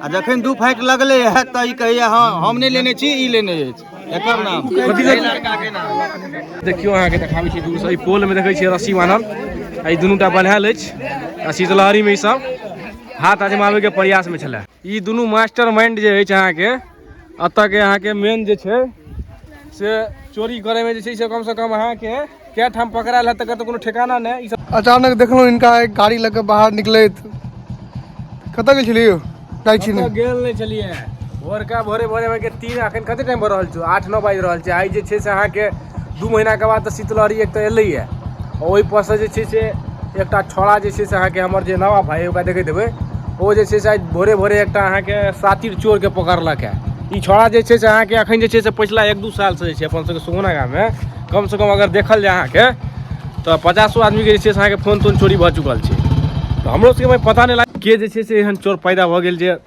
आ जखन दू फाइट लगले है तऽ ई कहैया हँ हम नहि लेने छी ई लेने अछि एकर नाम एहि लड़काके नाम देखियौ अहाँके देखाबै छी दूरसँ ई पोलमे देखै छियै रस्सी बान्हल आ ई दुनूटा बन्हायल अछि आ शीतलहरीमे ई सब हाथ आजमाबैके प्रयासमे छलए ई दुनू मास्टर माइंड जे अछि अहाँके एतऽ के अहाँके मेन जे छै से चोरी करैमे जे छै से कमसँ कम अहाँके कए ठाम पकड़ायल हैत तकर तऽ कोनो ठेकाना नहि ई सब अचानक देखलहुँ इनका एक गाड़ी लऽ कऽ बाहर निकलैत कतऽ गेल छलियै यौ जाइ छी कतऽ गेल नहि छलियै भोरका भोरे भोरे अहाँके तीन अखन कते टाइम भऽ रहल छै आठ नओ बाजि रहल छै आइ जे छै से अहाँके दू महिनाके बाद तऽ शीतलहरी एक तऽ एलैए ओइपर सँ जे छै से एकटा छौड़ा जे छै से अहाँके हमर जे नबाब भाय ओकरा देखैत हेबै ओ जे छै से आइ भोरे भोरे एकटा अहाँके सातिर चोरके पकड़लक हँ ई छौड़ा जे छै से अहाँके एखन जे छै से पछिला एक दू सालसँ जे छै अपन सबके सुगुना गाममे कमसँ कम अगर देखल जाय अहाँके तऽ पचासो आदमीके जे छै से अहाँके फोन तोन चोरी भऽ चुकल छै तऽ हमरो सबके पता नहि लागल के जे छै से एहन चोर पैदा भऽ गेल जे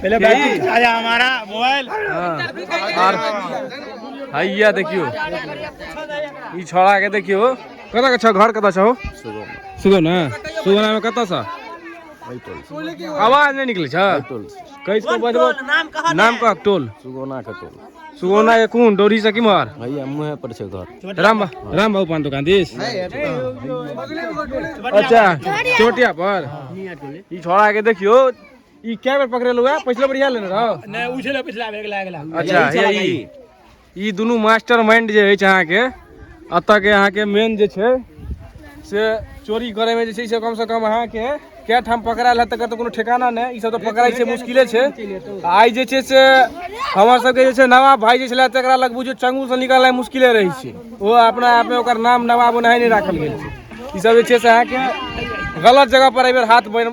पहिले बैटरी आया हमारा मोबाइल हां और हैया देखियो ई छोड़ा के देखियो कता के छ घर कता छ हो सुगो ना सुगो ना में कता छ आवाज नहीं निकले छ कैस को बजबो नाम कह नाम कह टोल सुगोना के टोल सुगोना के कोन डोरी से किमहर हैया मुहे पर छ घर राम राम बाबू पान दुकान दिस अच्छा चोटिया पर ई छोड़ा के देखियो ई कै बेर पकड़े लुआ पिछले बढ़िया लेने रहो नहीं उछले पिछला बेर अगला अगला अच्छा यही ई दुनू मास्टर माइंड जे अछि अहाँके एतऽ के अहाँके मेन जे छै से चोरी करे में जे छै से कम से कम अहाँके कै ठाम पकड़ायल है तकर तऽ कोनो ठेकाना नहि ई सब तऽ पकड़ाइ छै मुश्किले छै आ आइ जे छै से हमर सबके जे छै नवाब भाई जे छलै तकरा लग बुझियौ चंगू से निकलनाइ मुश्किले रहै छै ओ अपना आप में ओकर नाम नवाब ओनाहि नहि राखल गेल छै ई सब जे छै से अहाँके गलत जगह पर एहि बेर हाथ बन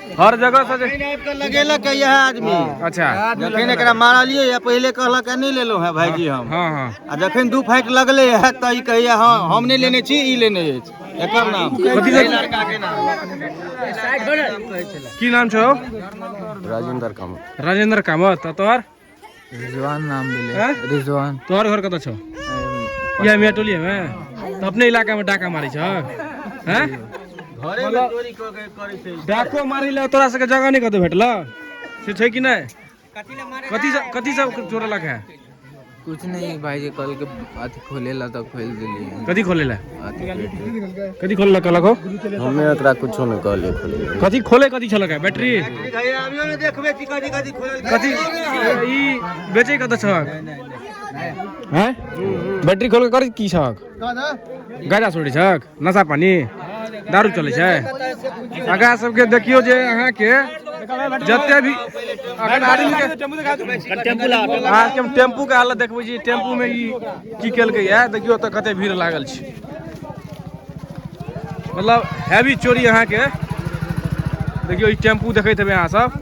हर जगह से जे- आबि कऽ लगेलक है यह आदमी अच्छा जखन एकरा मारलियै है पहिले कहलक है नहीं लेलो है भाईजी हम हाँ हाँ आ जखन दू फाइट लगले है तऽ ई कहैया हाँ हम नहीं लेने छी ई लेने अछि एकर नाम कथी सब- लड़का के नाम की नाम छौ राजेंद्र कामत राजेंद्र कामत आ तोहर रिजवान नाम भेलै हैं? रिजवान तोहर घर कतऽ छौ अरे, इएह मियाँ टोलिए मे तऽ अपने इलाका मे डाका मारै छौ हैं घरे में चोरी क के करे छै डाको मारै लए तोरा सबके जगह नहि कतौ भेटल से छै कि नहि कथी सब कथी सब चोरेलक है कुछ नहीं भाई जी कल के अथी खोले ला तो खोल दिली कथी खोले ला कथी खोले ला कहलक हो हमें एकरा कुछो न कहले खोले कथी खोले कथी छलक है बैटरी कथी ई बेचे कत छक हैं बैटरी खोल के कर की छक गाजा छोड़ी छक नशा पानी दारू चलै छै आगा सबके देखियो जे अहाँ के जते भी अगर आदमी के अहाँ के टेम्पू के हालत देखबै छी टेम्पू में ई की केलकै या देखियो तऽ कते भीड़ लागल छै मतलब हैवी चोरी अहाँ के देखियो ई टेम्पू देखैत हेबै अहाँ सब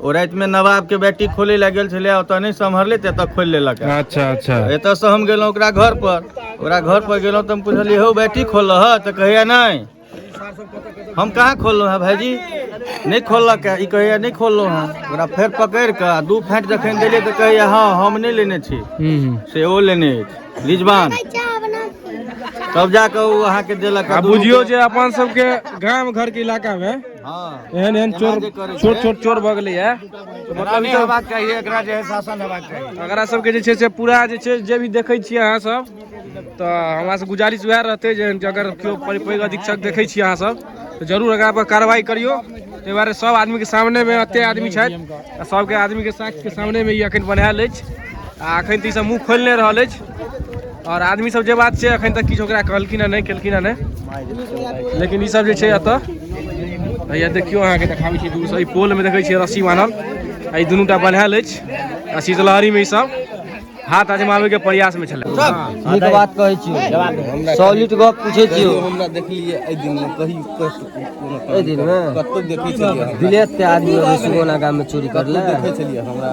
ओ रातिमे नवाबके बैटी खोलै लए गेल छलै ओतऽ नहि सम्हरले तऽ एतऽ खोलि लेलक है। अच्छा अच्छा एतऽसँ हम गेलहुँ ओकरा घर पर ओकरा घर पर गेलहुँ तऽ हम पुछलियै हौ बैटी खोलऽ ह तऽ कहैया नहि हम कहाँ खोललहुँ हैं भाईजी नहि खोललक है ई कहैया नहि खोललहुँ हैं ओकरा फेर पकड़ि कऽ आ दू फाँटि जखन देलियै तऽ कहैया हँ हम नहि लेने छी हम्म, हम्म। से ओ लेने अछि रिजवान तब जाकऽ ओ अहाँके देलक आ आ दू बुझियौ रुपैआ। जे अपन सबके गाम घर के इलाका मे एहन एहन चोर छोट छोट चोर भऽ गेलै है मतलब ई सब चाही एकरा जे शासन हेबाक चाही एकरा सबके जे छै से पूरा जे छै जे भी देखै छियै अहाँ सब तऽ हमरा से गुजारिश वएह रहतै जे अगर केओ पैघ अधीक्षक देखै छियै अहाँ सब तऽ जरूर एकरा पर कार्रवाई करियौ ताहि दुआरे सब आदमी के सामने मे एते आदमी छथि आ सबके आदमी के साथ के सामने मे ई अखन बनायल अछि आ अखन तऽ ई सब मुँह खोलि नहि रहल अछि आओर आदमी सब जे बात छै अखन तक किछु ओकरा कहलखिन हँ नहि केलखिन हँ नहि लेकिन ई सब जे छै एतऽ हैया देखियौ अहाँके देखाबै छी दूरसँ ई पोलमे देखै छियै रस्सी बान्हल आ ई दुनू टा बन्हायल अछि आ शीतलहरीमे ई सब हाथ आजमाबैके प्रयासमे छलै नीक बात कहै छी सॉलिड गप पूछै छी हमरा देखलियै एहि दिन मे कही एहि दिन मे कतौ देखै छलियै विलेत के आदमी अबै सुगौना गाम में चोरी करले देखै छलियै हमरा